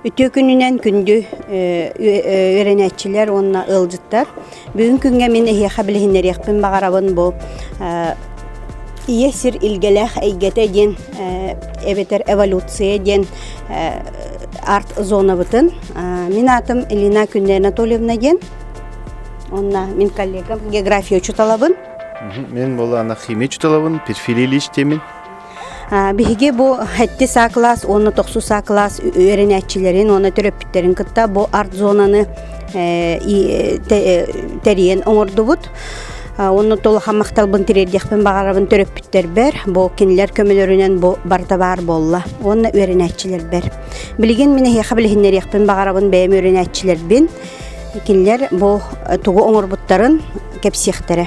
Үтүө күнүнэн күндү үөрэнээччилэр уонна ыалдьыттар. Бүгүн күҥҥэ мин эһиэхэ билиһиннэриэхпин баҕарабын бу Ийэ сир илгэлээх эйгэтэ диэн эбэтэр эволюция диэн арт-зонабытын. Мин аатым Элина Күннэ Анатольевна диэн. Онно мин коллегам география учуталабын. Мен Молана химия учуталабын, перфилийлиичтэмин. Биһиги бу эти саа кылаас уонна тохсус саа кылаас үөрэнээччилэрин уонна төрөппүттэрин кытта бу арт-зонаны тэрийэн оҥордубут. Онно толохан махталбын тириэрдиэхпин баҕарабын төрөппүттэрбэр, бу кинилэр көмөлөрүнэн бу барда баар буолла уонна үөрэнээччилэрбэр. Билигин мин эһиэхэ билиһиннэриэхпин баҕарабын бэйэм үөрэнээччилэрбин. Кинилэр бу тугу оҥорбуттарын кэпсиэхтэрэ.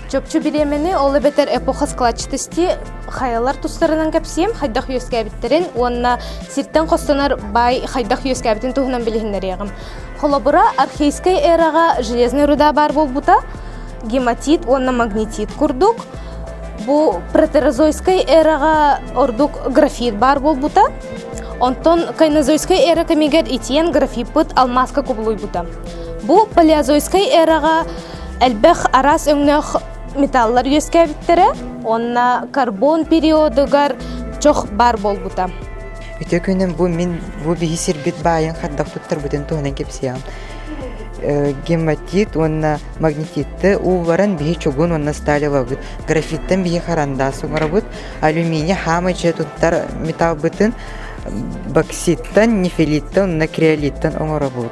Чопчу бириэмэни, ол эбэтэр эпоха складчатости хайалар тустарынан кэпсиэм, хайдах үөскээбиттэрин уонна сиртэн хостонор бай хайдах үөскээбитин туһунан билиһиннэриэҕим. Холобура, архейскай эраҕа железный руда баар буолбута, гематит уонна магнитит курдук. Бу протерозойскай эраҕа ордук графит баар буолбута. Онтон кайнозойскай эра кэмигэр итиэн графиппыт алмааска кубулуйбута. Бу палеозойскай эраҕа элбэх араас өҥнөөх металлар үөскээбиттэрэ уонна карбон периодугар чох баар буолбута үтө күнүм бу мин бу биһи сирбит баайын хардахпыттарбытын туһанан кэпсиям гематит уонна магнититты уулларан биһи чугун уонна сталилабыт графиттан биһи харандаас оҥоробут алюминий хаама дьэ туттар металлбытын бокситтан нефилиттан уонна креолиттан оҥоробут